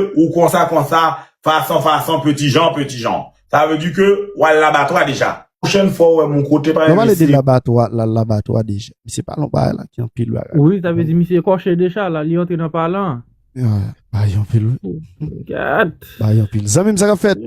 ou konsa konsa, fason fason, peti jan peti jan. Sa vle di ke w al labatwa deja. Pwochèn fwa w wè m yon kote pa Lè w pale de labatwa, l al labatwa deja. Misye pale yon bagay la ki anpil bagay. Wi, sa vle di misye ekòche deja la, li antre nan palan an. Bagay yo anpil wi. Gad! Bagay yo anpil. Zanmi m, sa k ap fèt?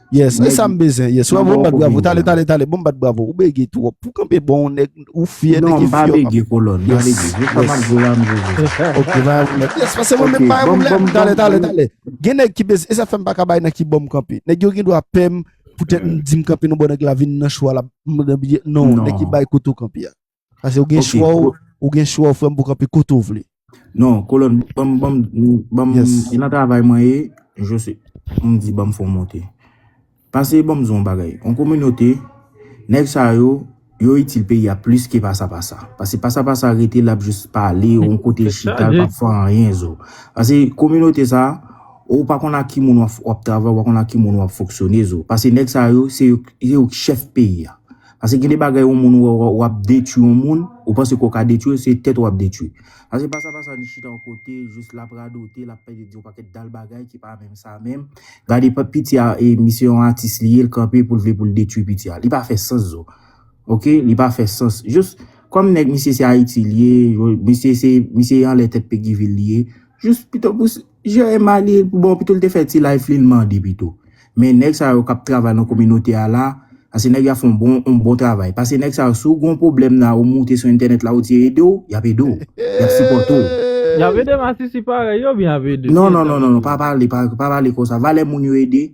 Yes, e sa m bezwen. Yes, wè bon bat bravo. Tale, tale, tale. Bon bat bravo. Ou bege tou. Pou kanpe bon, nèg, ou fye, nèg, ou fye. Non, ba bege kolon. Ba bege. Yes, yes. Ok, ba bege. Yes, fase mwen mè pa yon problem. Tale, tale, tale. Gen nèg ki bezwen. E sa fèm pa kabay nan ki bom kanpe. Nèg yo gen do a pèm. Poutèt m di m kanpe nou bon nèg la vin nan chwa la. M nan biye. Non, nèg ki bay koto kanpe ya. Pase ou gen chwa ou, ou gen chwa ou frèm pou kanpe kote ou vle. Non, kolon, banm, banm, banm, yon nan travay mwen ye, je se, m di banm fon monte. Pase banm zon bagay, yon kominote, nèk sa yo, yo itil pe ya plis ke pasa pasa. Pase pasa pasa rete lap jis pale, yon kote chita, lap fwa an yen zo. Pase kominote sa, ou pa kon a ki moun wap travay, ou pa kon a ki moun wap foksyone zo. Pase nèk sa yo, se yo chèf pe ya. Pase gen de bagay yon moun wè w ap detwi yon moun, ou panse ke w ka detwi l, se tèt ou w ap detwi. Pase pa sa pa sa li chita yon kote, jis l ap radote, l ap pale di yon pakèt dal bagay ki pa menm sa menm. Gade pa piti a e misye yon atis li ye, l kanpe pou l vle pou l detwi piti a. Li pa fè sans zo. Ok, li pa fè sans. Jis kòm nèg misye se Ayiti li ye, misye se misye anlè tèt Peguy ville li ye, jis pito pou Jan Emma li bon pito li te fè ti life li li mande pito men nèg sa yo kap travay nan kominote a la pase nèg yo ap fè yon bon yon bon travay pase nèg sa yo si w gen yon pwoblèm la ou moute sou entènèt la ou di yo ede w yap ede w yap sipòte w. Yap ede masisi parèy yo oubyen yap ede w? Non non non non pa pale pa pale konsa valè moun yo ede.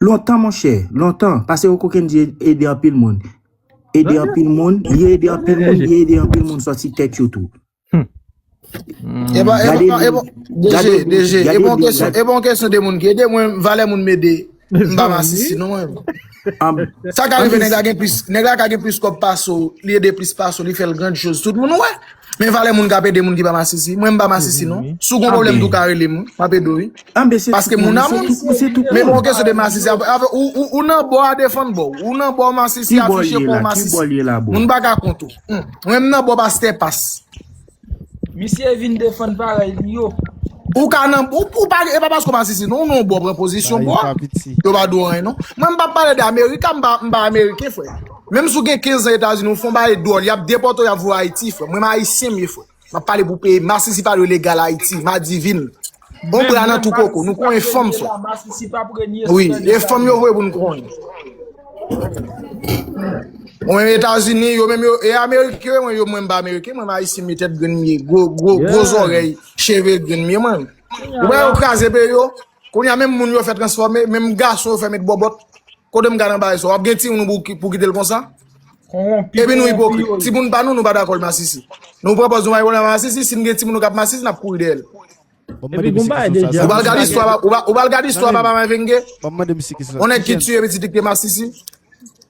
Lontan monchè, lontan, pase o kokenn di ede anpil moun. Ede anpil moun, li ede anpil moun, li ede anpil moun sòti tèt yo tou. E bon, e bon, e bon, deje, deje, e bon kesyon, e bon kesyon de moun ki ede mwen, valè moun mede, mba masisi non mwen. Sa ka rive nèg la gen plis, nèg la ka gen plis kòb pase w, li ede plis pase w, li fè l grand chose, tout moun wè. Men valè moun kap ede moun ki pa masisi. Mwen m pa masisi non. Si w gon pwoblèm tou w ka rele m. Map ede w wi. Paske moun a moun. Men pou yon kesyon de masisi. Ou nan bò a defann bò w. Ou nan bò masisi afiche kòw masisi. Moun pa ka kont ou. Mwen m nan bò pastè pas. Misye vin defann parèy li yo. Ou ka nan bò. E pa paske w masisi non. Ou nan yon bò pran pozisyon bò a. Yo pa di w anyen non. Mwen m pa pale de amerika. M pa ameriken frè. Menm si w gen 15 zan etazini w fon bagay dwòl yap depòte w yap voye w ayiti frè mwen m ayisyen mye frè map pale pou peyi m masisi pa dwe legal ayiti madivin on bra nan tou koko nou konyen fanm frè wi e fanm yo vwe pou nou konyen mwen menm etazini yo menm yo e ameriken mwen yo mwen m pa ameriken mwen m ayisyen mye tèt grenn mye gwo gwo gwo zòrèy cheve grenn mye mwen m ou wè yo kraze peyi yo Kounya menm moun yo fè transfòme, menm gason yo fè met bòbòt, kote m gad anba e sa w ap gen timoun ou pou kite l konsa? Konronpi Epi nou konronpi ipokrit, yo ye. timoun pa nou, nou pa dakò l masisi. Nou pran pòz nou marye konn al masisi, si n gen timoun nou k ap masisi n ap kouri dèyè l. Bon m mande Epi gon misye bagay kesyon sa deja Ou sa pa l gad misye istwa, pa ou pa l gad istwa Tande m, papa mavenge? bon m mande misye kesyon sa, On nèg ki kijan tiye pitit li k te masisi?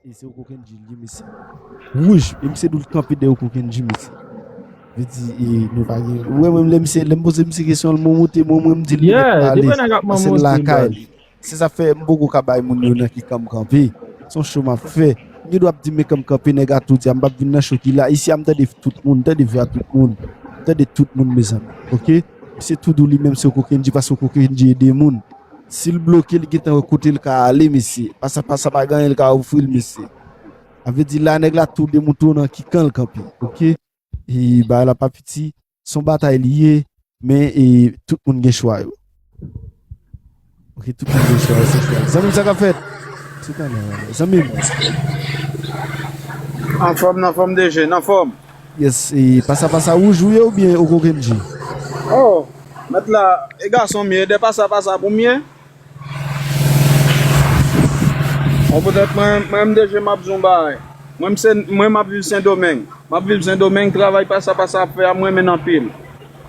E se ou koken djil di mesi. Wouj e misye dou l kanpe dèyè ou koken dji mesi. Li di e nou pa gen. Ou wè menm lè misye lè m poze misye kesyon l momote mwen mwen m di l li mèt pa alèz paske l lakay li. Se sa fè m poko ka bay moun yo nan ki kan m kanpe. Se yon cho m ap fè. M gen dwa ap di men kan m kanpe nèg a tou di a m pap vin nan cho ki la. Isi a m tande tout moun, m tande vwa tout moun. M tande tout moun mezanmi. Ok. Misye tou dou li menm se ou koken dji paske ou koken dji ede moun. Sil bloke li gentan wè kotel ka ale mesye pasa pasa pa gen anyen li ka ofril mesye sa vle di la nèg la tou demoutre nan ki kanl kanpe ok e bagay la pa piti son batay li ye men e tout moun gen chwa yo ok tout moun gen chwa yo se frèl zanmim sa kap fèt zanmim. Anfòm nanfòm DG nanfòm. Yes e pasa pasa wouj ou ye oubyen ou koke bgy. Oh met la e gason m ye de pasa pasa pou m ye bon potet mwen menm deje map di yon bagay mwen se mwen map viv sendomeng map viv sendomeng travay pasa pasa ap fè a m renmenn anpil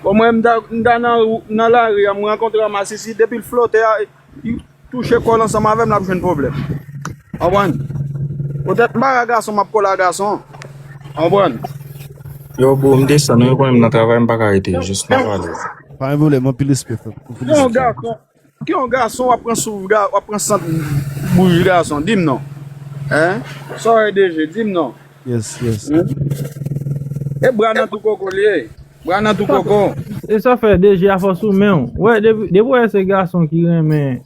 bon mwen m ta nan lari a m rankontre a masisi depi l flote a. Li touche kòl ansanm avèm lap jwenn pwoblèm konprann poutèt m pa ka gason map kole a gason konprann. Yow bro m desann ou yo konnen m nan travay m paka rete jis map ale. Pa gen pwoblèm anpil respè frèm pou Ki yon felistasyon. gason Ki yon gason wap pran souf wap pran sant bouch gason dim non hein Saw wè DG dim non. Yes yes. E bra nan tou koko li ye. Bra nan tou koko. E sa fè DG a fò sou menw. Wè depi ou wè se gason ki renmen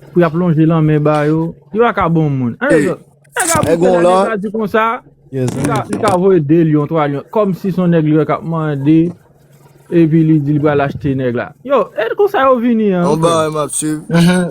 pou yap lonje lanmen ba yo, yo pa ka bon moun. An e zòt. Nèg ap rive lè nèg la di konsa, li ka voye 2 lyon 3 lyon kòmsi son nèg li wè kap mande. Epi li di li pral achte nèg la. Yo, e konsa yo vini an. Yon bagay map swiv.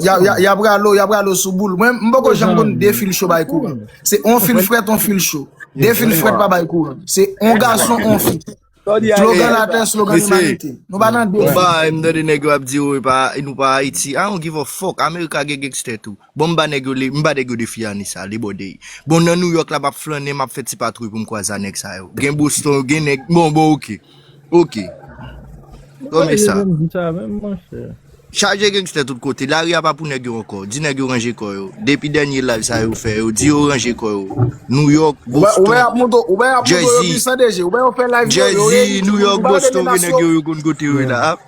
Y ap ralo, y ap ralo sou boul. Mwen m poko janm konn 2 fil cho bay kouran. Se yon fil frèt, yon fil cho. 2 fil frèt pa bay kouran. Se yon gason, yon fi. Slogan latè, slogan limanite. Nou pa nan 2 fil. Yon bagay m tande nèg yo ap di yo nou pa Ayiti. I don't give a fuck. America gen gangster tou. Bon m ba nèg yo m ba nèg yo defi an Issa li bòde Bon nan New York la m ap flannen m ap fè ti patwouy pou m kwaze a nèg sa yo Gen Boston gen nèg bon bon ok ok Bon e sa Chaje gangster tout kote lari a pa pou nèg yo ankò di nèg yo ranje kò yo depi dènye live sa yo fè yo di yo ranje kò yo New York Boston Jersey Jersey New York Boston gen nèg yo yo konn kote yo ye la.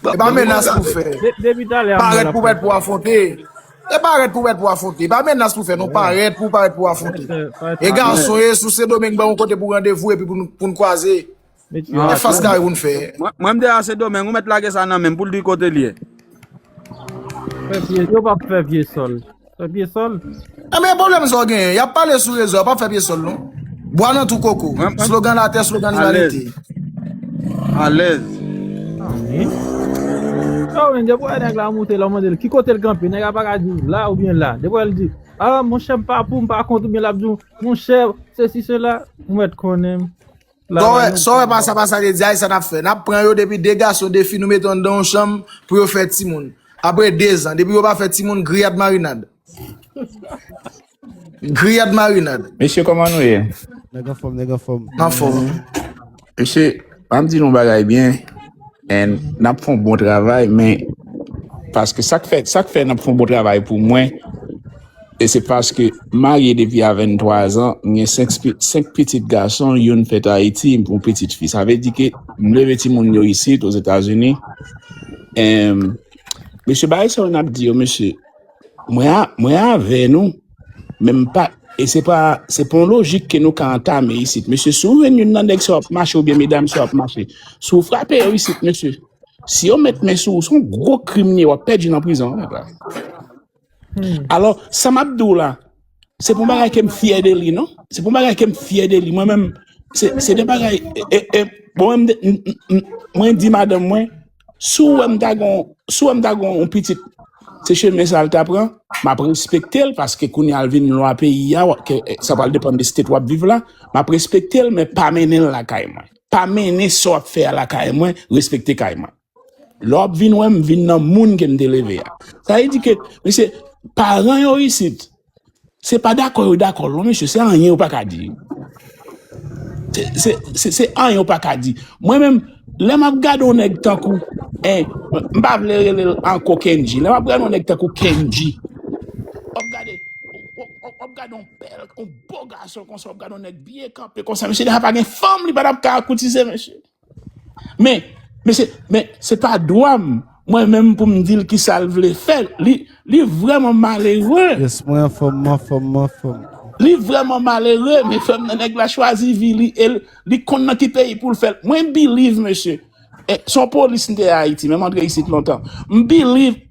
E pa menas pou fè. Parèt pou mèt pou afwonte. E parèt pou mèt pou afwonte. E pa menas pou fè non. Parèt pou parèt pou afwonte. E gason e sou se domeng ban yon kote pou randevou e pi pou n kwaze. E fas kare pou n fè. Mwen m de a se domeng ou mèt lage sa nan menm pou l di kote l ye. Yo pa fè vye sòl. Fè pye sòl? Ebyen pwoblèm sa w genyen? Yap pale sou rezo a, pa fè pye sòl non. Bwa nan twou koko. Mwen pa Slogan latè, slogan limanite. Alèz. Alèz. Ah oui. Yo men depi wè nèg la moute lè w mande l ki kote l kanpe nèg la pa ka di w la oubyen la. Depi wè l di ah monchè m pa pou m pa kont oubyen lap di w monchè sesi sela ou mèt konnen m Kòwè, sa w wè pa sa pa sa de di a e sa n ap fè. N ap pran yo depi 2 gason 2 fi nou mete yo anndan yon chanm pou yo fè timoun. Apre 2 zan, depi yo pa fè timoun, griyad marinad. Griyad marinad. Mesye kòman nou ye? Nèg anfòm, nèg anfòm. N anfòm wi. Mesye, an m di nou yon bagay byen, en n ap fè yon bon travay men paske sa k fè sa k fè n ap fè yon bon travay pou mwen, E se paske m marye depi a 23 zan, m gen 5 pitit gason, youn fèt Ayiti, yon pitit fi. Sa vle di ke m leve timoun yo isit, Ozetazini. Em, mesye bagay sa yo n ap di yo, mesye, mwen a, mwen avè nou, men m pa, e se pa, se pa yon lojik ke nou ka antame isit. Mesye, si w jwenn youn nan nèg sa yo ap mache, oubyen medam sa yo ap mache, si w frape yo isit, mesye, si yo met men sou ou, se yon gwo krim li ye, w ap pèdi nan prizon, nèg la. Alò, sa m ap di w la, se pou bagay ke m fyè de li non. Se pou bagay ke m fyè de li. Mwen menm, se se de bagay, e, e, mwen menm, m, m, m, mwen di madanm mwen, si w wè m ta gon, si w wè m ta gon yon pitit, se chemen sa l ta pran, m ap respekte l, paske kounye a l vin lwa peyi a, w ap ke, e, sa pral depann de state w ap viv la, m ap respekte l, men pa mennen l lakay mwen. Pa mennen sa w ap fè a lakay mwen, respekte kay mwen. Lè w ap vin wè m, vin nan moun ke m te leve a. Sa vle di ke, mesye, paran yo isit, se pa dakò yo dakò non mesye, se anyen yo pa ka di. Se, se anyen yo pa ka di. Mwen menm, lè m ap gade yon nèg tankou, e, m pa vle rele l ankò Kendji, lè m ap gade yon nèg tankou Kendji, w ap gade, w ap gade yon bèl, yon bo gason konsa, w ap gade yon nèg byen kanpe konsa, mesye, lè sa pa gen fanm li pa t ap ka koutise mesye. Men, men se men se pa dwa m mwen menm pou m di l kisa l vle fè. Li li vrèman malere. Yes, mwen anfòm, m anfòm, m anfòm. Li vrèman malere, mezanmi nan nèg la chwazi vi li e li konn nan ki peyi pou l fè l. Mwen believe mesye, e, s on polis m te Ayiti men m antre isit lontan. M believe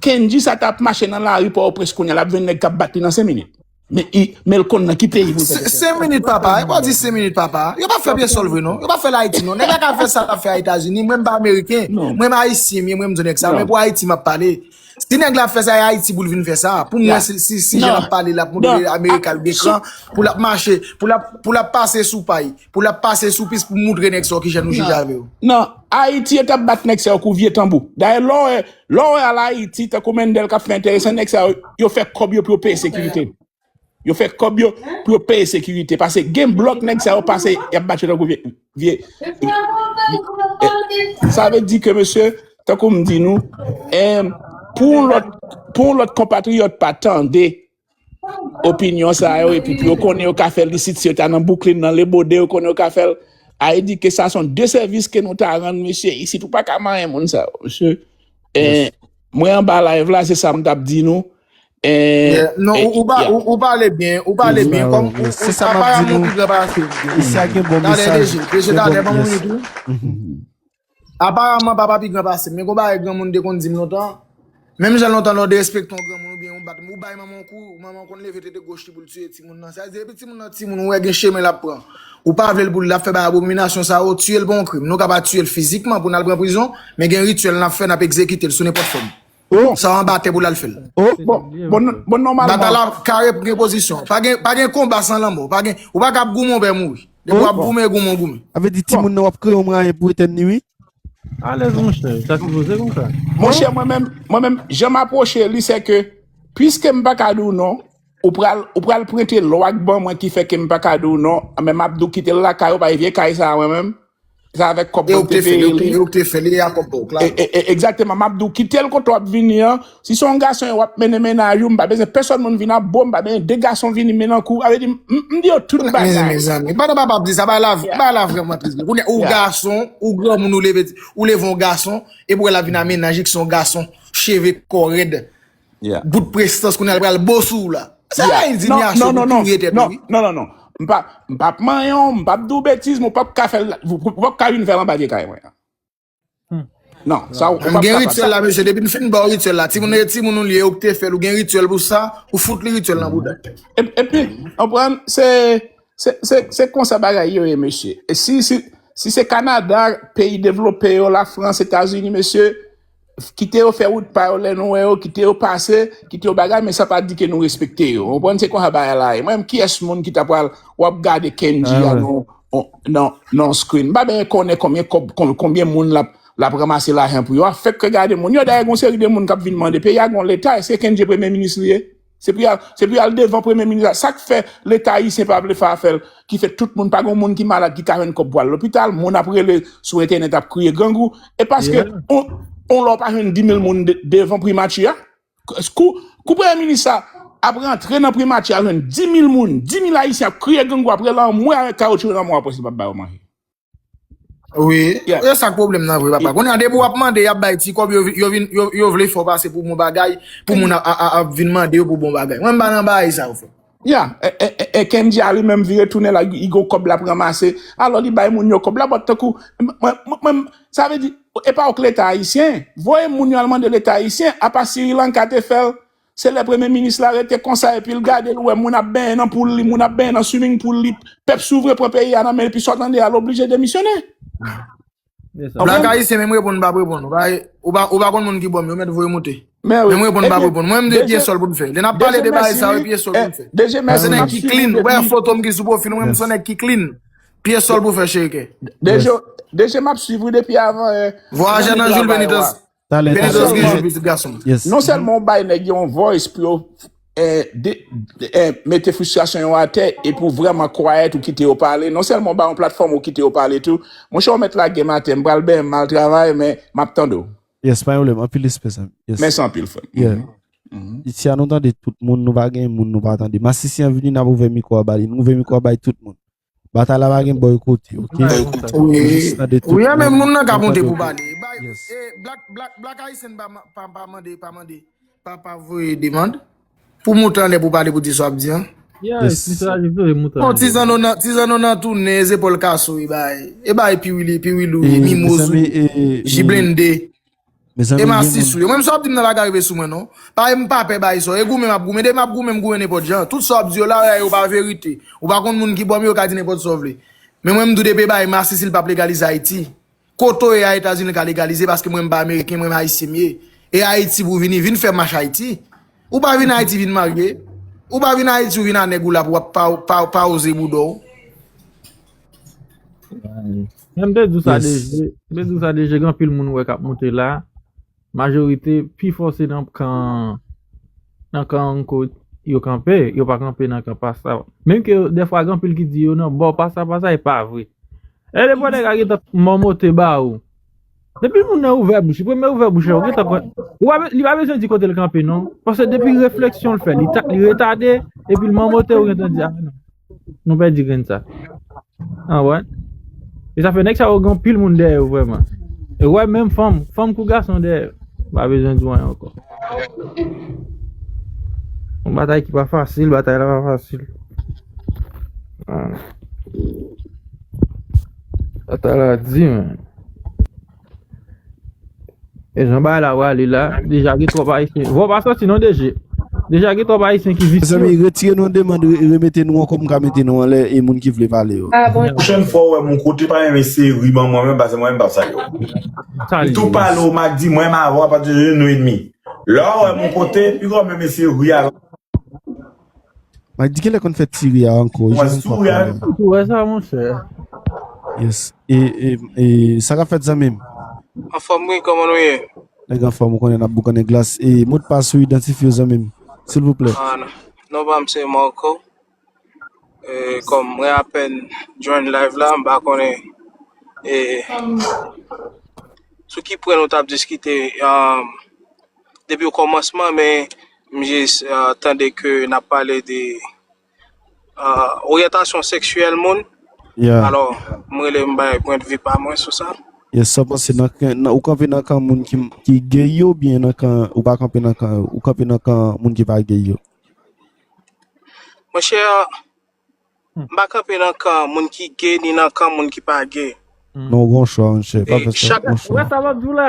Kendji sa ta ap mache nan lari Pòtoprens kounye a l ap jwenn nèg k ap bat li nan 5 minit. Men i menl konn nan ki peyi pou l fè kèk Sen minit papa e pa di sen minit papa yo pa fè pyesol vre non yo pa fèl ayiti non nèg la ka fè sa lap fè a etazini mwen m pa ameriken mwen m ayisyen m ye mwen m di nèg sa men pou ayiti map pale si nèg la ap fè sa e ayiti pou l vin fè sa pou m wè si si jan lap pale lap montre amerika l gen kran pou lap mache pou lap pou lap pase sou pay pou lap pase sou pis pou montre nèg sa w kijan nou jije avè w nan ayiti yo tap bat nèg sa yo kou vye tanbou dayè lè w wè Lè w wè al Ayiti, tankou Mendel k ap fè enteresan, nèg sa yo, yo fè kòb yo pou yo peye sekirite. Yo fè kòb yo pou yo peye sekirite. Pase gen blòk nèg sa yo pase y ap bat yo tankou vye, vye, vye. Sa vle di ke mesye, tankou m di nou, eh, pou yon lòt, pou yon lòt konpatriyòt pa tande opinyon sa yo epi pou yo konnen yo ka fè lisit si yo ta nan Brooklyn nan Le Bode yo konnen yo ka fèl a edike sa son de sèvis ke nou ta rann mesye isit ou pa ka manyen moun sa yo mesye eh, Yes. mwen an ba live la se sa m tap di nou eh, Yeah. Non, eh, ou, ou, pa, yeah. ou, ou pale byen, ou pale Yes, byen. Kòm Barrow. ou, Yes. ou, Se sa m ap di aparamon nou. pi gran pase. Yes. Isi a gen bon Talè mesaj, deje, deje gen bon talè ban moun yes. li tou. Aparamman papa pi gran pase m. Men gon bagay granmoun te konn di m lontan, menm jan lontan lè w derespekte yon granmoun oubyen ou bat, ou bay manman w kou, manman w konn leve tete goch li pou l tiye timoun nan. Sa vle di depi timoun nan timoun ou wè gen chemen l ap pran, ou pa vle l pou l ap fè bagay abominasyon sa yo, tiye l pa yon krim. Nou ka pa tiye l fizikman pou n al pran prizon, men gen rityèl n ap fè, n ap egzekite l sou nenpòt fòm. Oh! Sa anba tè pou l al fè l. Oh! Bon, bon, bon nòmalman. Batay la kare pou gen pozisyon. Pa gen, pa gen konba san lanmò. Pa gen, ou pa ka ap goumen ou pè mouri. Depi w ap goumen, goumen, goumen. A vle di timoun nan w ap kreye yon mwayen pou etèn li wi. Alèz monchè, sa sipoze konsa. Monchè mwen menm, mwen menm, jan m apwoche li se ke piske m pa ka di w non, ou pral, ou pral prente lwa k ban mwen ki fè ke m pa ka di w non, men m ap di w kite l lakay ou, paske vye kay sa a mwen menm, Se avèk kòb E mwen ou k te te fè l, e ou peye k li. e ou k te fè l, e a kòb pa w, E, Claude. e, e, egzakteman, m ap di w, kite l kote w ap vini an, si se yon gason e w ap mennen mennaj ou, m pa bezwen pèsòn moun vin ap bo, m pa bezwen de gason vini mennen kou, sa vle di m, m m di yo tout Kounye- men, bagay. mezanmi, pandan papa ap di sa, bagay la, vr- Yeah, bagay la vrèman tris vre. Kounye, ou yeah. gason, ou granmoun, ou leve, ou leve yon gason, epi ou wè l ap vin a mennaj li ki se yon gason, cheve, kò rèd, Bout prestans kounye a li pral bo sou ou la. Sa se endinyasyon pou touye tèt ou wi. Non non non. M pa ap manyen w, m pa ap di w betiz men ou pa ap ka fè l, ou pa ap ka vin fè l anba pye kay mwen an. Non, sa ou pa ap kapab sa. M gen rityèl la mesye, depi m fin ba w rityèl la, timoun e timoun ou li e ou k te fè l, ou gen rityèl pou sa, ou fout li rityèl nan bouda. Epi, konprann, se, se, se konsa bagay yo ye mesye. Si, si se Kanada, peyi devlope yo, Lafrans, Etazini mesye. Kite yo fè wout pa yo lè nou wè yo, kite yo pase, kite yo bagay men sa pa di ke nou respekte yo. Ou konprann se konsa bagay la ye. Mwen menm kiyès moun ki ta pral wap gade Kendji a nan yon screen. M pa benyen konnen konbyen kòb konbyen moun lap lap ranmase lajan pou yo. A fèk ke gade moun yo dayè gon seri de moun kap vin mande peyi a gon leta eske Kendji premye minis li ye? Se pou yal se pou yal devan premye minis la sak fè leta ayisyen pa vle fè afèl ki fè tout moun pa gon moun ki malad ki ka jwenn kòb pou al lopital moun ap rele sou entènèt ap kriye grangou e paske on on lè w pa jwenn dimil moun devan primati a kou kou premye minis la ap rantre nan primati a jwenn dimil moun dimil ayisyen ap kriye grangou ap rele anmwe avèk kawotchou nan mò a pwès li pap ba yo manje. Wi, Yeah. e sak problem nan vre papa. Kounye a depi wap mande yap bay ti kob yo vi- yo vin yo, yo vle fè w pase pou bon bagay, pou moun a, a, a, ap vin mande yo pou bon bagay. Mwen mpa nan baay sa yo frè. Ya, e, e, e, e Kendy a li menm vire tounen la li gon kòb lap ranmase, alò li bay moun yo kòb la but tankou mwen mwen mwen sa vle di e pa ok leta ayisyen voye moun yo al mande leta ayisyen apa Sirilanka te fèl Se lè premye minis la rete konsa epil gade li wè moun ap benyen nan poul li moun ap benyen nan swimming pool li pèp souvren pran peyi a nan men li pi sòt ande a l oblije demisyone Black konprann? ayisyen menm reponn m pap reponn ou bay ou pa ou pa konn moun ki bòm yo mèt voye moute menm reponn m pap Ebyen reponn mwen m de DG pye sòl pou m fè lè nap DG pale de bagay mèsi sa yo wi e pye sòl pou m fè DG mwen se mèsi nèg map ki swiv ou clean ou wè depi fotom ki sou profil mwen m se nèg ki clean pye sòl pou fè cheriken. DG map swiv ou depi avan è Vwa ajan nan joul benitans Talè talè. Filizof gen je pitit gason. Non sèlman ou bay nèg yo yon voice pou yo mete frustration yo atè epi ou vrèman quiet ou kite yo pale, non sèlman ou ba yo yon platform ou kite yo pale tou. Monchè ou mèt lage m atè, m pral benyen m al travay men m ap tande w. Yes pa gen pwoblèm, anpil respè zanmi m. Mèsi anpil frè m. Isia nou tande tout moun nou pa gen moun nou pa tande. Masisi an vini n ap ouvè mikwo a ba li, nou ouvè mikwo a bay tout moun. Batay la pa gen bò kote ok. Wi a men moun nan ka monte pou pale. Black ayisyen pa mande pa voye demand pou moute anlè pou pale pou di sa wap di an. Bon ti zanno nan ti zanno nan tounen zepòl kaso e bay e bay piwili piwilou mimoz ou jiblende. Mezanmi gen moun. Emma si sou yo. Mwen menm sa wap dim nan la ka rive sou mwen non. Pa em pa pè bay so. E goumen map goumen. Depi map goumen m goumen nenpot jan. Tout sa wap di yo la yo pa verite. Ou pa konn moun ki bom yo ka di nenpot sa w vle. Men mwen m di w depi e bay masisi li pap legalize ayiti. Kote w ye a etazini li ka legalize paske mwen m pa ameriken mwen m ayisyen m ye. E ayiti pou w vini vin fè mach ayiti. Ou pa vin ayiti vin marye. Ou pa vin ayiti ou vin a nèg ou la pou wap pa oze bouda w. Mwen te di sa deje. Mwen te di sa deje gen pil moun wè kap monte la. Majorite pi fòse nan kan nan kan anko yo kanpe. Yo pa kanpe nan kan pasta. Menm ke defwa gen pil ki di yo nan bò pasta pasta e pa vre. E de pou nèg a geta mòmote ba ou. Depi moun nan ouvè bouch li, premye ouvè bouch la ou gentan konn, ou pa li pa bezwen di kote l kanpe non, paske depi refleksyon l fè li ta li retade epi l manmote ou gentan di a non nou pèdi grenn sa. An wè? E sa fè nèg sa yo gen pil moun dèyè yo vrèman. E wè menm fanm, fanm kou gason dèyè yo. Ou pa bezwen di wanyen ankò. Yon batay ki pa fasil, batay la pa fasil. An. Atala di men. E jan bay la wale la. Deja gen trop ayisyen. Vò pa soti non deje. Deja gen trop ayisyen ki visye. Mezanmi retire nou demand remete nou an kòm ka mete nou anlè e moun ki vle pale yo. Pwochèn fwa ou wè m yon kote pa renmen seri ban mwen menm pase mwen menm pa salye w. M tou pale w m ak di mwen m avè w apati de jodi nou enmi. Lè w wè m yon kote pi gò menm eseye ri avè m. Mwen di kele konn fè ti ri a anko. Mwen sou wè an. Mwen sou wè sa mwen chè. Yes. E, e, e, sa ka fèt zanmim? An fòm wi, kòman nou ye? Nèg an fòm ou konnen nap boukannen glas. E, mot pas ou idantifye w zanmim. Silvouplè. Ah, non pam se Marco. E, kòm mwen apèn join live la, mpa konnen. E, sou ki pwen nou tap diskite? Ah. depi o kòmansman men m jis tande ke n ap pale de oryantasyon seksyèl moun Yeah. alò m rele m bay pwendvi pa mwen sou sa. Yes, sa w panse nan kan nan- ou kanpe nan kan moun ki ki gay yo byen nan kan ou pa kanpe nan kan yo, ou kanpe nan kan moun ki pa gay yo. Mwen chè, m pa kanpe nan kan moun ki ge ni nan kan moun ki pa ge. Non gon chwa mwen chè, pa E fè sa, chak- gon Ou wè chwa. sa lòt di w la?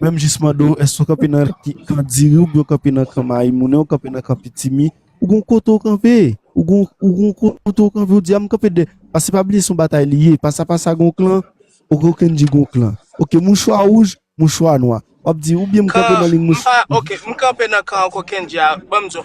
Menm jis mande w èske w kanpe nan kan diri ou byen w kanpe nan kan maymoune ou kanpe nan kan pitimi ou gon kote w kanpe ou gon ou gon kote w kanpe ou di a m kanpe dè pase pa bliye se yon batay li ye pasa pasa gon klan ok ou kèn di gon klan ok mouchwa wouj mouchwa nwa w ap di ou byen m kanpe nan lig mouch kan m pa ok m kanpe nan kan ankò kèn di a ban m di w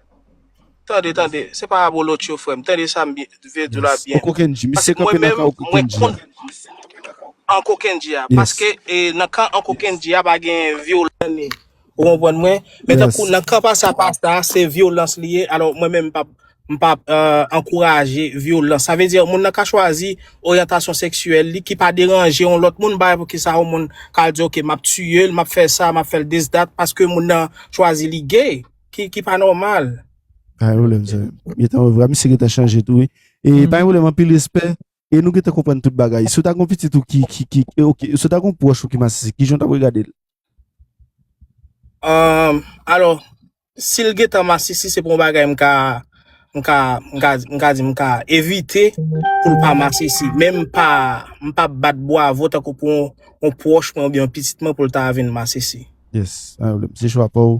Tande, tande, se pa abolotcho frè m, tande sa m vle di w la byen. Anko Kendji, misye kanpe nan kan Anko Kendji a. Anko Kendji a, paske nan kan Anko Kendji a pa gen vyolans ni, ou konprann mwen, men tankou nan kan Pasa Pasta a se vyolans li ye, alò mwen menm m pap m pap ankouraje vyolans. Sa vle di moun nan ka chwazi oryantasyon seksyèl li ki pa deranje yon lòt moun, m pa wè poukisa yon moun ka al di ok m ap tiye l, m ap fè sa, m ap fè l dis dat paske moun nan chwazi li gay. ki ki pa normal. Ay ou lèm zè. Mwen tan wè vwa misye gen tan chanje tou. E pa yon lèm anpil respè. E nou gen tan konprann tout bagay. Sou ta kon pitit ou ki ki ki. E ok. Sou ta kon pwòch ou ki masisi. Ki jan ta wè gade l. Amm. Alo. Si l gen tan masisi se pou yon bagay m ka. M ka. M ka. M ka di m ka. Evite. Pou l pa masisi. Men m pa. M pa bat bwa vò tan kou pou yon. Yon pwòch mwen ou byen yon pitit mwen pou l ta vin masisi. Yes. Ay ou lèm. Se chwa pa ou.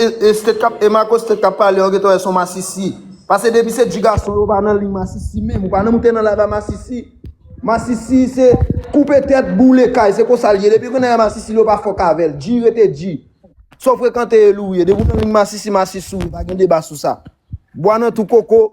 Estet kap e Marco stet kap pale ok to wè son masisi pase depi se du gason yo pa nan liy masisi menm ou pa nan moute nan live a masisi masisi se koupe tèt boule kay se konsal ye depi kounye a masisi yo pa fòk avèl du rete du sa ou frekante e lou ou ye depi ou nan liy masisi masisi ou ye pa gen deba sou sa bwa nan tou koko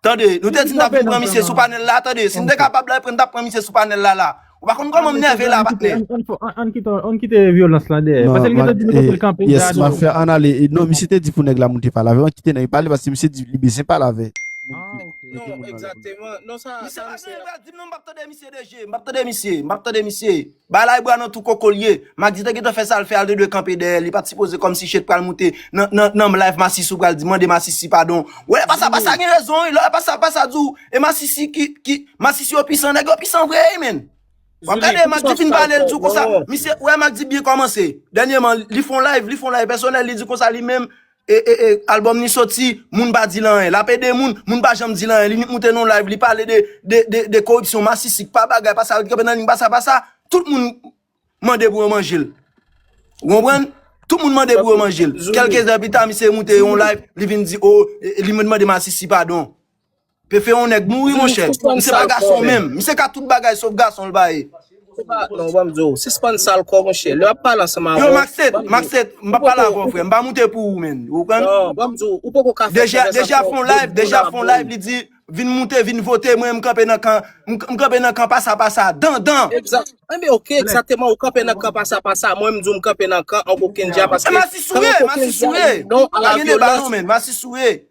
Tande, nou te di n tap vin pran misye sou panèl la, tande, si n te kapab la, n tap pran misye sou panèl la la. Ou pa konn kòman m nève la, patnè. Ann kite vyolans la dèyè, pase li gentan di nou kote l kanpe dja non. Map fè ann ale, non misye te di pou nèg la moute pale avè, ann kite nèg pale pase misye di li bezyen pale avè. Non, egzateman, non sa, sa misye. Misye pral di m non m pap tande misye de je, m pap tande misye, m pap tande misye. Bay la bwa nan tou koko l ye. Max te gentan fè sal fè a li te dwe kanpe dèyè li pat sipoze kòm si chet pral moute nan live masisi ou pral di mande masisi padon wè pasa pasa gen rezon wi lè pasa pasa di w e masisi ki masisi yo pisan nèg yo pisan vre wi menn wap gade max di fin pale li di w konsa misye wè max di byen kòmanse dènyeman li fon live li fon live pèsonèl li di konsa li menm Ee album ni soti moun pa dil anyen lap ede moun moun pa janm dil anyen li nik moute non live li pale de de koripsyon masisi kpa bagay pa sa ret kanpe nan ligne pa sa pa sa tout moun mande pou yo manjel ou konprann tout moun mande pou yo manjel kelke zè pita misye moute yon live li vin di oh li vin mande masisi padon. Pefe yon nèg mouri monchè. Misye pa gason menm. Misye ka tout bagay sof gason l pa ye. Non, banm di w, sispann sal kò monchè. Lè wap pale ansanm avè w. Yo Maxet, Maxet, m pa pale avè w frè. M pa moute pou ou menn. Ou konprann? Non, banm di w, ou poko ka fè konvèsasyon. Deja fon live, deja fon live li di vin moute, vin vote mwen m kanpe nan kan, m kanpe nan kan pasa pasa. Dan dan. Egzat. Enben ok, egzateman ou kanpe nan kan pasa pasa. Mwen m di w m kanpe nan kan Onk Okenja paske. Masisi souye, masisi souye. Pa gen deba non menn, masisi souye.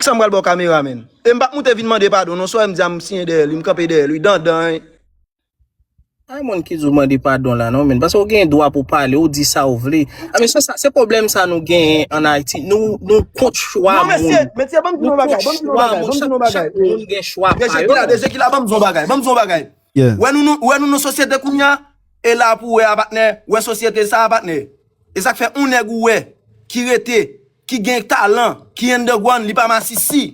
Sam pral baw kamera menn. E m pap moute vin mande padon non soyem di a m siyen dèyèl wi m kanpe dèyèl wi dandan. Ay moun ki di w mande padon la non menn paske w gen dwa pou pale w di sa w vle a mesye sa se pwoblèm sa nou genyen an ayiti nou nou kont chwa moun non mesye mesye banm di nou bagay banm di nou bagay banm di nou bagay chak moun gen chwa pa yo mesye kila mesye kila banm di nou bagay banm di nou bagay wè nou nou wè nou nan sosyete kounya e la pou wè a patnè wè sosyete sa a patnè. E sak fè on nèg ou wè ki rete, ki gen talan, ki underground li pa masisi.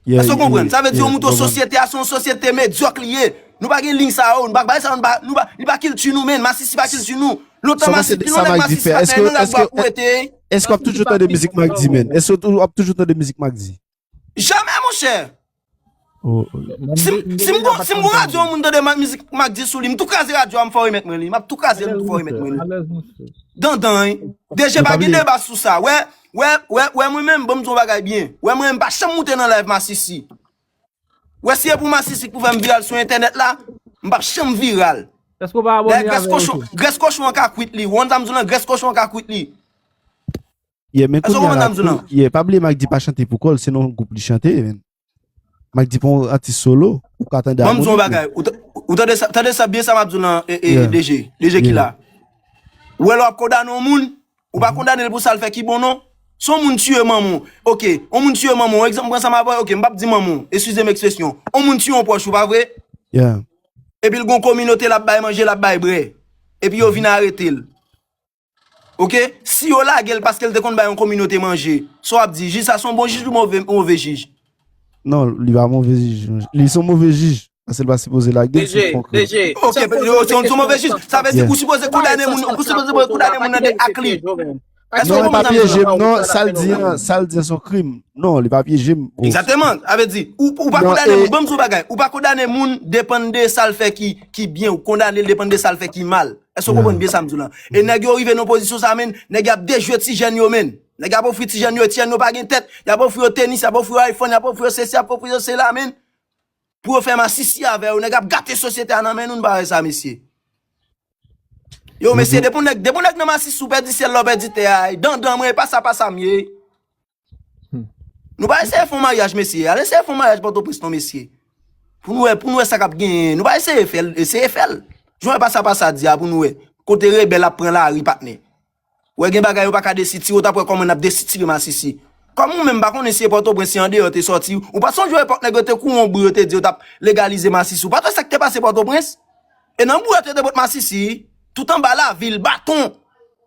Èske ou konprann? Sa vle di yon mouton sosyete a se yon sosyete medyòk li ye. Nou pa gen liy sa yo, nou pa bay sa yo, nou pa, nou pa, li pa kilti nou menn, masisi pa kilti nou. Lontan masi, pi lontan masisi pa fè, nou la gwa pou wete. Èske w ap toujou tande mizik Mack D menn? Èske w ap toujou tande mizik Mack D? Jamè monchè! Si m gwo radyo an moun tande mizik Mack D sou li, m tou kraze radyo a m fò remèt mwen li. M ap tou kraze l m tou fò remèt mwen li. Dandan! DG pa gen deba sou sa. Wè, wè, wè, wè mwen menm banm di w yon bagay byen. Wè mwen menm m pa janm moute nan live masisi. Wè si e pou masisi k pou fè m viral sou entènèt la, m p ap janm viral. Èske w pa abòne avè l tou? Grès kochon an ka kwit li. Ou konn sa m di w lan? Grès kochon an ka kwit li. Yeah, men Eske w kounye a konprann la, sa m di w lan? yeah, pa bliye Mike D pa chante pou kò l, se nan yon gwoup li chante, men. Mike D pa yon atis solo, ou ka tande Bon m di w yon amonik li. bagay, ou ta- ou tande sa, tande sa byen sa m ap di w lan e, e, Yeah. DG, DG ki Yeah. la. Ou wè lè w ap kondane yon moun, ou pa kondane l pou sa l fè ki bon non. Si yon moun tiye manman w, ok, yon moun tiye manman w, egzanp m pran sa m ap bay, ok, m pap di manman w, eskize m ekspresyon, yon moun tiye yon pwòch ou, pa vre? Yeah. Epi l gon kominote l ap bay manje, l ap bay bre. Epi yo vin arete l. Ok, si yo lagel paskel te konn bay yon kominote manje, sa wap di, jij sa son bon jij ou move jij? Non, li pa move jij, li son move jij, paskel pa sipoze lagel si li pran krim. Ok, li son move jij, sa vle di ou sipoze kondane moun, ou sipoze kondane moun nan de ak li. Non, li pa pyejem non, sal di an, sal di an son krim, non, li pa pyejem. Egzateman, sa vle di, ou pa kondane moun, banm di yon bagay, ou pa kondane moun depan de sal fè ki byen, ou kondane depan de sal fè ki mal. Èske w konprann byen sa m di w la? E nèg yo rive nan yon pozisyon sa menn, nèg y ap dejwe ti jèn yo menn. Nèg y ap ofri ti jèn yo, e ti jèn yo pa gen tèt. Y ap ofri yo tenis, y ap ofri yo iPhone, y ap ofri yo sesi, y ap ofri yo sela menn. Pou yo fè masisi avè yo. Nèg ap gate sosyete a nan men nou, nou pa wè sa mesye. Yo mesye, depi yon nèg nan masisi ou pèdi syèl la, ou pèdi tè a. Dandan mwen, e pa sa pa sa m ye. Nou pa eseye fon maryaj mesye, al eseye fon maryaj pòtoprens non mesye. Pou nou wè, pou nou wè sa kap genyen. Nou pa eseye fèl, eseye fèl. Jou wè pa sa pa sa di a pou nou wè. Kote rebèl ap pran la ri patnè. Wè gen bagay yo pa ka desitire, ou tap wè kòman nap desitire masisi. Kòm ou menm pa konnen si e pòtoprens si andeyò te sòti, ou pa sonje epòk nèg yo te kou on bri yo te di yo tap legalize masisi. Ou pat wè sak te pase pòtoprens? E nan bri yo te de bòt masisi, tout anba lavil, baton.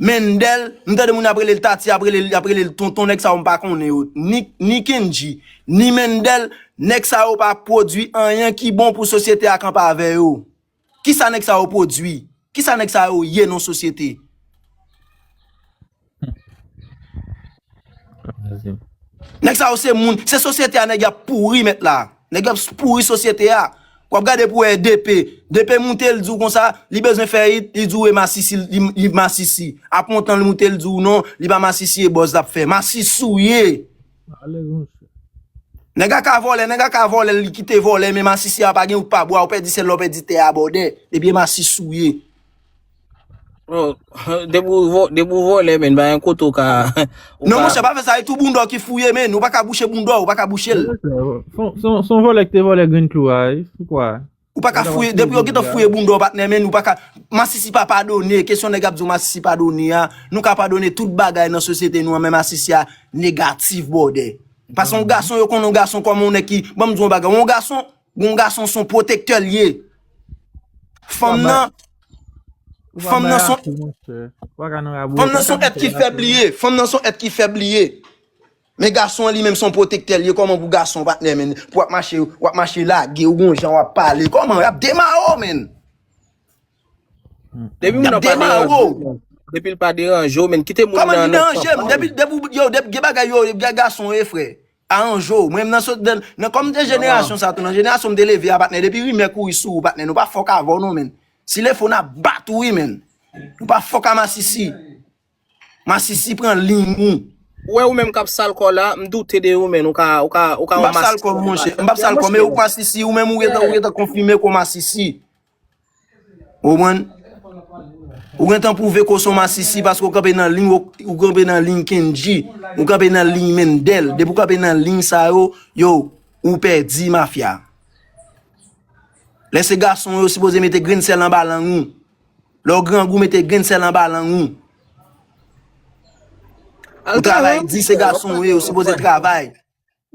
Mendel, m tande moun ap relel Tati ap relel yap relel tonton nèg sa yo m pa konnen yo ni ni Kendji ni Mendel nèg sa yo pa pwodwi anyen ki bon pou sosyete a kanpe avè yo kisa nèg sa yo pwodwi kisa nèg sa yo ye nan sosyete. Nèg sa yo se moun, se sosyete a nèg y ap pouri mèt la. Nèg y ap pouri sosyete a. W ap gade pou wè DP. DP moute l di w konsa, li bezwen fèyit, li di w e masisi, li masisi. Ap montan l moute l di w non, li pa masisi e bòz l ap fè. Masisi w ye. Nèg a ka vòlè, nèg a ka vòlè li kite vòlè men masisi a pa gen ou k pa bwa, ou pèdi sèl la, ou pèdi tè a bòdè. Depi e masisi w ye. Bro, depi ou vo- depi ou vole men, ba yon kote ou ka, ou Non ka, monchè, pa fè sa, e tou boundò ki fouye men, ou pa ka bouche boundò, ou pa ka bouche l. Son, son, son vòlè ki te vòlè grenn klou a, e, sou kwa? Ou pa Yo ka ta pral fouye, fouye depi yo gentan jodi a. fouye boundò patnè men, ou pa ka, masisi pa padone, kesyon nèg ap di w masisi padone a, nou ka padone tout bagay nan sosyete nou an, men masisi a negatif bwòdè. Pase yon Anhan. gason, yo konnen yon gason kòman yon nèg ki, ban m di w yon bagay, yon gason, Gon gason son pwotektè li ye. Fanm nan Fanm nan son Fanm nan son èt ki fèb li ye Fanm nan son èt ki fèb li ye Men gason an li menm son pwotektè li ye kòman pou gason pa tnè menn pou wap mache wap mache lage ou gon jan wap pale kòman yap demare w menn Yap demare w Depi l pa deranje w menn kite moun nan Kòman li deranje m depi yo gen bagay yo gason yo ye frè Arange w. Mwen m nan sot dan nan kòm m te jenerasyon sa tou nan jenerasyon m te leve a patnè depi rimè kouri sou ou patnè nou pa fòk avè w non menn si le fò n ap bat ou wi menn nou pa fòk a masisi masisi pran liy ou Ou wè ou menm kap sal kò la, m doute de ou menn ou ka ou ka ou ka yon masisi. M pap sal kò m monchè, m pap sal kò m e ou masisi ou menm ou gentan ou gentan konfime ke w masisi. Ou konprann? Ou gentan pwouve ke w se yon masisi paske w kanpe nan liy, ou kanpe nan liy Kendji, ou kanpe nan liy Mendel. Depi w kanpe nan liy sa yo, yow, ou pèdi mafya. Lè se gason yo sipoze mete grenn sèl anba lang ou. Lè w grangou mete grenn sèl anba lang ou. Ou travay di se gason yo sipoze travay.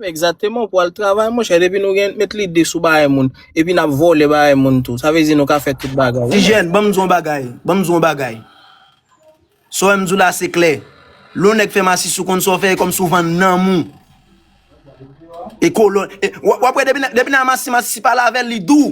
Exactement, pou al travay monchè, depi nou gen met lide sou bagay moun, epi nap vòlè bagay moun tou, sa vle di nou ka fè tout bagay. Tijèn, banm di w yon bagay, banm di w yon bagay. Sa w wè m di w la se klè. Lè yon nèg fè masis ou konn sa w fè, e kòmsi w vann nanm ou. E kolòn, wap wè depi nèg la masi masi si pa lave l li dou.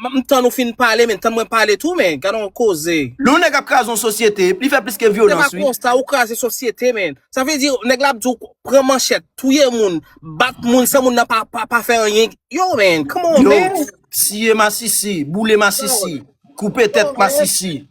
M tann ou fin pale men tann mwen pale tou men gadon koze. Lew neg ap kraze yon sosyete li fè plis ke Se pa vyolans wi. konsa ou kraze sosyete men. Sa vle di neg la ap di w pran manchèt, touye moun, bat moun san moun nan pa pa pa fè anyen. Yo man, come on Yo man. tiye masisi, boule masisi, koupe tèt masisi.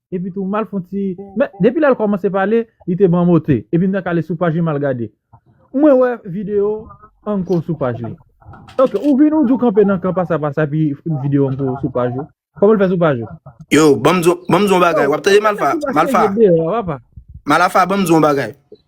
Epi tou mal fon ti Men depi lèl kòmanse pale li te banm ote epi m tank ale sou paj li mal gade Mwen wè video anko sou paj li Ok ou vin ou di ou kanpe nan kan pasa pasa epi video anko sou paj ou Kòman l fè sou paj ou? Yo banm di w banm di w yon bagay wap tande malfa malfa Malfa banm di w yon bagay.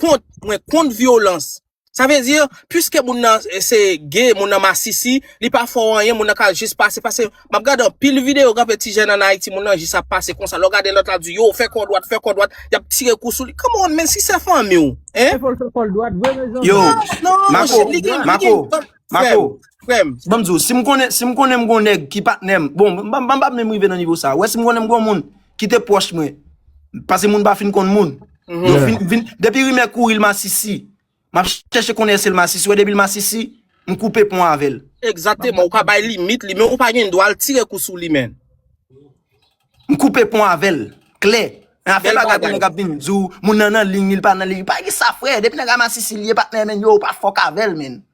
kont mwen kont vyolans sa vle di pwiske moun nan se gay moun nan masisi li pa fè w anyen moun nan ka jis pase pase map gade anpil video gen anpil ti jèn an Ayiti moun nan jis ap pase konsa lè w gade lòt la ap di yo fè kò dwat fè kò dwat yap tire kou sou li come on men si se fanmi w hein Fè fòl fè kòl dwat vre mezanmi. Yo, non Fè Mako, shit li gen li gen Mako, frèm Mako, frèm banm di w, si m konnen, si m konnen m gon nèg ki patnè m, bon, m pa m pa menm rive nan nivo sa, wè si m konnen m gon moun ki te pwòch mwen, pase moun pa fin konn moun, depi rimè kouri l masisi, m ap chèche konnen èske l masisi, wè depi l masisi, m koupe pon avè l. Egzateman, ou ka bay limit li, men ou pa gen dwa al tire kou sou li menn. M koupe pon avè l, klè. Nan afè bagay pou nèg ap vin di w, moun nan nan liy li, li pa nan liy li, pa gen sa frè, depi nèg la masisi li ye patnè menn yo, ou pa fòk avè l menn.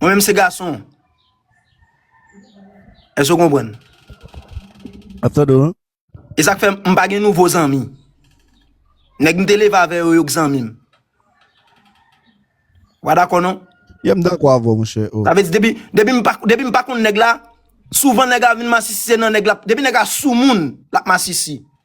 Mwen menm se gason. Èske ou konprann? Map tande ou. E sak fè m pa gen nouvo zanmi. Nèg m te leve avè yo yo k zanmi m. Ou pa dakò non? Ye m dakò avè w monchè. Sa vle di depi m pa konn nèg la, souvan nèg la vin masisi se nan nèg la, depi nèg la sou moun, l ap masisi.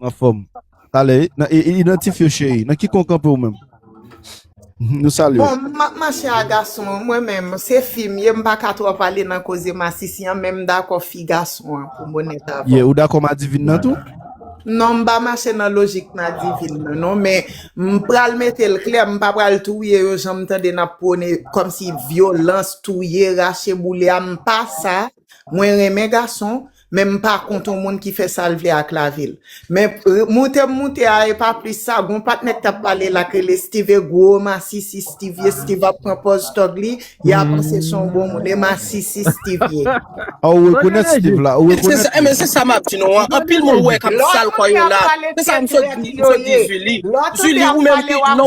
Anfòm. Talè wi. Nan e idantifye w cheri. Nan ki kon w kanpe ou menm? Nou salye w. Bon, m ap mache a gason an. Mwen menm, se fi m ye, m pa ka twòp ale nan koze masisi an, men m dakò fi gason an, pou m onèt avè w. Ye, ou dakò madivin nan tou? Non, m pa mache nan lojik madivin nan non, men m pral mete l klè, m pa pral touye yo jan m tande n ap pwone, kòmsi vyolans, touye, rache boule a, m pa sa. Mwen renmen gason, Men m pa kont yon moun ki fè sa l vle ak lavi l. Men, moute m moute a e pa plis sa, gon patnè k t ap pale la k rele Stive gwo masisi Stivie Stive ap pran pòz tòg li, y a panse s on bon moun e masisi Stivie. A ou rekonèt Stive la? Ou rekonèt li? Enben se sa m ap di nou an, anpil moun wè k ap sal kò yo la, se sa m sot di, m sot di Zuli, Zuli ou menm ki lè w.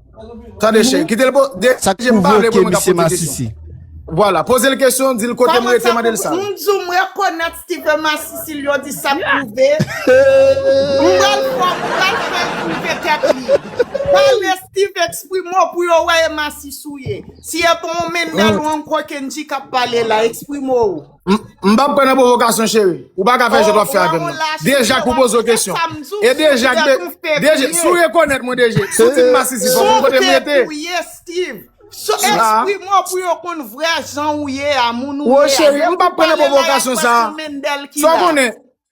Tande chen, kite l poze l kesyon. Sak pwovoke misye masisi? Vwala, poze l kesyon, di l kote m rete mande l sa. M di w m rekonèt Steven masisi l yo di sak pwove. M pral fè l pwouve tèt li. Pale Steven eksprime w pou yo wè e masisi w ye. Si e pa w menn nèl ou ankò Kendji k ap pale la, eksprime w. M pap pran nan provokasyon cheri. Ou pa ka fè jan wap fè avèm nan. Deja k ou poze w kesyon. E deja k deje si w rekonèt mwen deje. Si w di m masisi fòk ou kote m rete. Ou te touye Steeve. So esprime w pou yo konn vrè jan ou ye a, moun ou ye a. Ou cheri m pap pran nan provokasyon sa. Sa w konnen.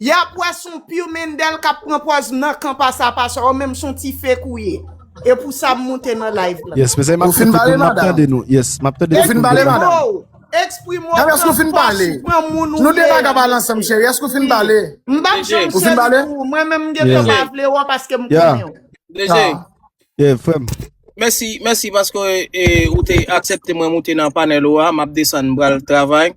Yap wè son piu Mendel kap pran pòz nan kan pasa pasa ou menm son ti fake ou ye e pou sa m moute nan live lan. Yes mezanmi map tande nou map tande nou yes map tande tout moun devan nou. Exprime ou pran pòs ou pran moun ou ye ui. M pap janm seri pou ou mwen menm m gentan pa vle ou paske m konnen ou. DG. Yeah frèm. Mèsi mèsi paske ou te aksepte mwen moute nan panel ou a map desann m pral travay.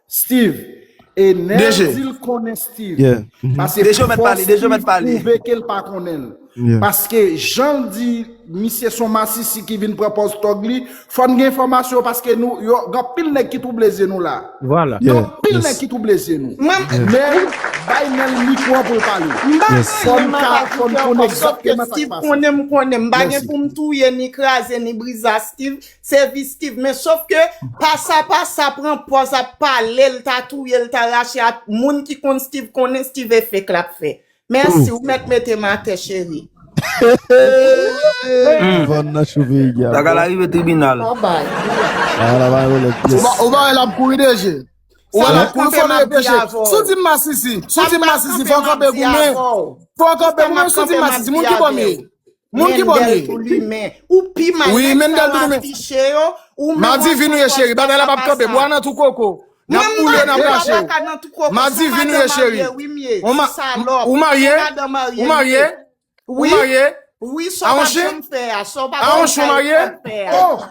Steve e neel dil konnen Steve pase fòs Steve pwouve kel pa konnen l paske janl di misye son masisi ki vin pran pòz tòg li fòn gen enfòmasyon paske nou yo gan pil nèg ki twouble zye nou la gan pil nèg ki twouble zye nou neel bay neel mikwo an poul pale fòn ka fòn konnen Steve konnen m konnen m pa gen poum touye ni kraze ni briza Steve. Se vistiv men sof ke pasa pasa pran pòz ap pale l ta touye l ta rache a moun ki konn stiv konnen stiv e fek lap fè mèsi ou mèt mete m atè cheri. Tagala rive tribinal. Ou pa wè lap kouri deje. Ou lap kouri fò nou repeche. Sou di m masisi. Sou di m masisi fò w kanpe goumen. Fò w kanpe goumen sou di m masisi. Moun ki bò m ye. Moun ki bò li. Ou pi mal nèg sa yo afiche yo. Madivin ou ye cheri bagay la pap kanpe bwa nan tou koko nap boule nap rache ou Madivin ou ye cheri ou marye ou marye ou marye a on chen a on chen ou marye oh.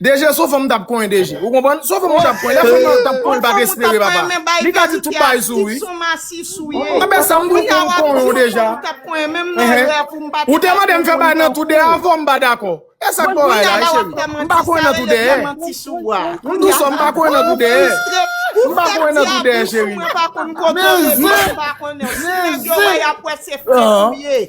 Deje son fanm tap konyen deje ou konprann son fanm ou tap konyen lè fanm nan tap konyen pat espere papa li ka di tout bagay sou wi anben sam tou konn konyen ou deja ehe ou te mandem fè bagay nan tou deyè avèw m pa dakò esak fè w rayi la cheri m pa konyen nan tou deyè m tou sò m pa konyen nan tou deyè m pa konyen nan tou deyè cheri men zen men zen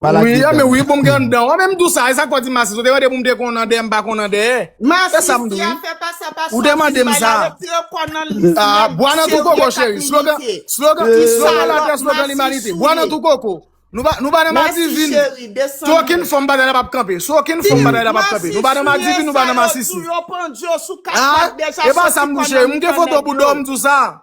Pa lage dan. Wi, men wi pou m gen anndan. Ou menm tou sa, e sa k fè w di m masi? Ou te mande pou m te konn anndan e m pa konn anndan e? Se sa m di wi. Masi, si afè pa sa pa sòti, m bay la retire kò nan l. Bwa nan tou koko cheri. Slogan, slogan, slogan latè, slogan limanite. Bwa nan tou koko. Nou pa, nou pa nan madivin. Sou okenn fòm bagay la p ap kanpe. Sou okenn fòm bagay la p ap kanpe. Nou pa nan madivin, nou pa nan masisi. Masi, si e sa yo di w yo pandye w sou kat pat deja soti kò nan l. E pa sa m di w cheri. M gen foto bouda w m di w sa.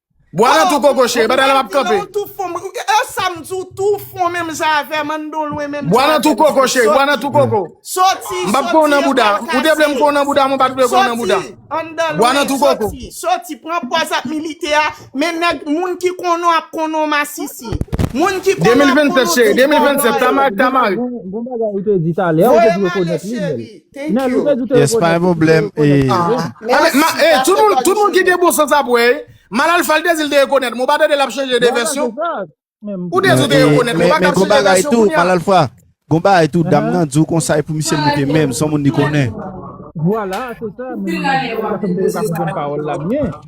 Bwa nan tou koko cheri, batay la pap kanpe. E sa m di w tou ou fon menm jan avè m, an n don lwen menm jan avè m. Bwa nan tou koko cheri, bwa nan tou koko. Soti, soti, soti, soti, soti, pran pòz ap milite a, men nèg moun ki konnen w ap konnen w masisi. Moun ki konnen w ap konnen w tout bon bagay. Bon bagay ou te di talè, ou te di rekonèt li menm. Thank you. Yes pa gen pwoblèm ee. Tout moun tout moun ki gen bon sans ap wè. Mal alfa li te dil te rekonèt mwen ou pa tande lap chanje de vèsyon. Ou te di ou te rekonèt mwen ou pa ka chanje vèsyon kounya. Mal alfa gon bagay tou dam nan diw konsay pou misye moute menl son moun li konnen. Vwala se sa menm nan di sa fèm te ka konprann pawòl la byen.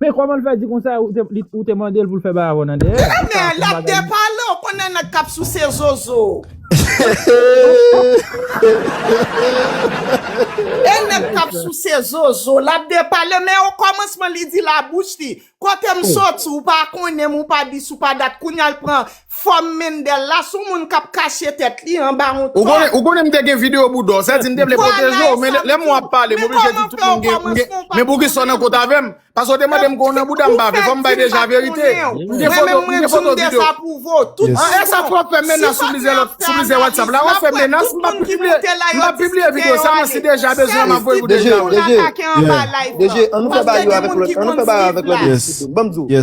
Men koman l fè di konsa ou te mande l pou l fè bay avè w nan dèyè? Kenè l ap depale ou konnen nèg k ap souse zozo e nèg k ap souse zozo l ap depale men o kòmansman li di labouch li kote m soti ou pa konnen m ou pa dis ou pa dat kounya l pran Fòm Mendel la sou moun kap kache tèt li anba yon tòg. Ou konnen m te gen video bouda w, sa di m te vle pwoteje w, men lè m wè w ap pale m oblije di tout moun gen, m gen, men poukisa w nan kont avè m? Paske w te mande m ke w nan bouda m, m pa vle, fò m bay deja verite. M gen foto, m gen foto video. An e sa twòp fè menas sou plizyè lòt, sou plizyè whatsapp la, wap fè menas, m pap pibliye, m pap pibliye video sa mwen si deja bezwen map voye pou deja wi. DG, DG, an nou fè bagay yo avèk lòt, an nou fè bagay yo avèk lòt epi se tou, banm di w.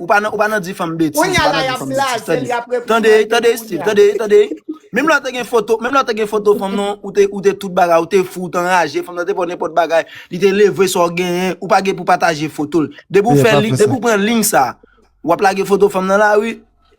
Ou pa nan ou pa nan di fanm betiz, Konya pa la nan di yap fanm betiz. blaze l, Tande, yap reponn tande, mal de tande nou Steve, konya. tande, tande. Menm lè ou te gen foto, menm lè ou te gen foto fanm nan, ou te ou te tout bagay, ou te fou, ou te anraje, fanm nan te fè w nenpòt bagay, li te leve sa w genyen, ou pa gen pou pataje foto l. Depi ou Meyè fè pa li, fè depi sa. ou pran liy sa, wap lage foto fanm nan lari.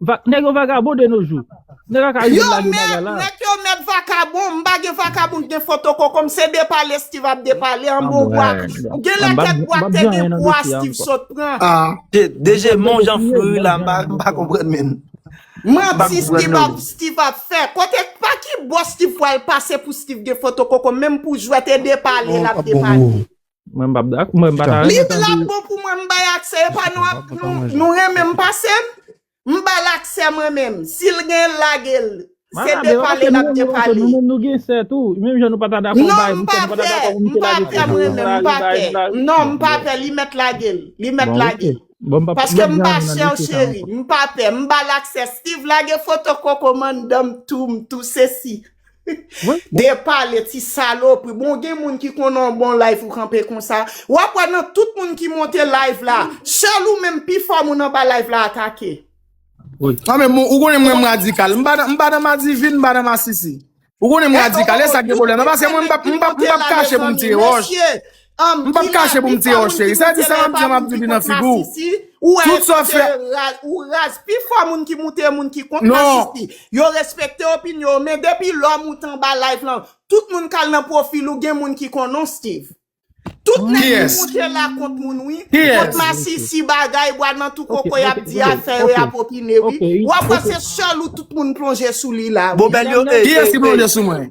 Vak nèg yo vagabon de nos jours. Nèg a ka rive Yo lage bagay mèt, la. rèk yo mèt vakabon, m pa gen vakabon k gen foto koko m, se depale Steeve ap depale an bon bwa. Genlè kèk bwa k te gen pwa Steeve sot pran. DG men w jan fri wi la m pa konprann menm. Manti Steeve ap fè. Kote, pa ki bò Steeve pwal pase pou Steeve gen foto koko menm pou jwèt e depale lap depale. Mwen pa ta renmen tande. Li trò bon pou mwen m bay aksè e pa nou renmen m pase m. M ba l aksè mwen menm. Si l gen l lage l. Se de pale l ap de pale. Nou menm nou gen sè tou. Menm jan nou pa ta dakò m bay. Non m pa pè. M pa pè mwen menm. M pa pè. Non m pa pè. Li mèt lage l. Li mèt lage l. Paske m pa chè w cheri. M pa pè. M ba l aksè. Steeve lage foto koko mandan m tou. M tou se si. De pale ti salopri Bon gen moun ki konn an bon live ou kanpe konsa Wap wè nan tout moun ki monte live la Sèl ou menm pi fò moun anba live la atake Nan men ou konnen mwen m radikal M pa nan madivin m pa nan masisi Ou konnen m radikal esak gen pwoblèm nan Paske mwen m pap kache pou m tire wòch M pap kache pou m di yo cheri. Sa di sa map di an map di li nan figu w. Tout sa w fè. Ou raz. Pi fò moun ki moute yo moun ki kont masisi. Yo respekte opinyon w men depi lò moute anba live lan tout moun kal nan pwofil ou gen moun ki konnen w Steeve. Tout nèg ki moute la kont moun wi. Kont masisi bagay bwa nan tou koko yap di a fè yo yap opine wi. Wap wè se sèl ou tout moun plonje sou li la wi. Kiyès ki plonje sou mwen?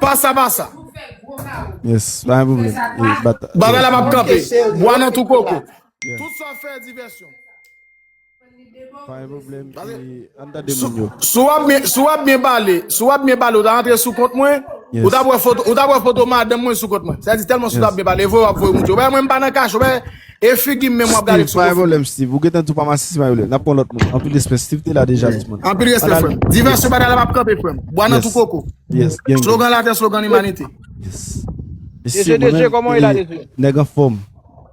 Pasa pasa. Yes, pa gen problem. Bagay la map kanpe. Bwa nan tou koko. Tout sa fè divèsyon. Pa gen problem. An ta de moun yo. Sou wap byen, sou wap byen pale, sou wap byen pale ou ta antre sou kont mwen. Ou ta wè foto, ou ta wè foto madanm mwen sou kont mwen. Sa di telman sou ta byen pale, voye wap voye moun yo. Ou wè mwen pa nan kache, ou wè. E figi menm wap gade sou Steve pa gen problem Steve ou gentan tou pa masisi mayo lè nap pran lòt moun anpil respè Steve te la deja tout moun Anpil respè frèm divèsyon batay la pap kanpe frèm bwa nan tou koko slogan latè slogan limanite Mesye mwen menm nèg anfòm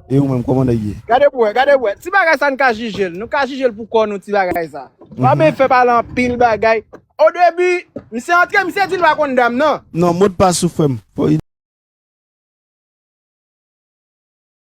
e ou menm kòman nèg ye Gade pou wè gade pou wè ti bagay sa nou ka jijel nou ka jijel pou kò nou ti bagay sa Fabe fè pale anpil bagay o debi misye antre misye dil pa konn dam nan Non modpas ou frèm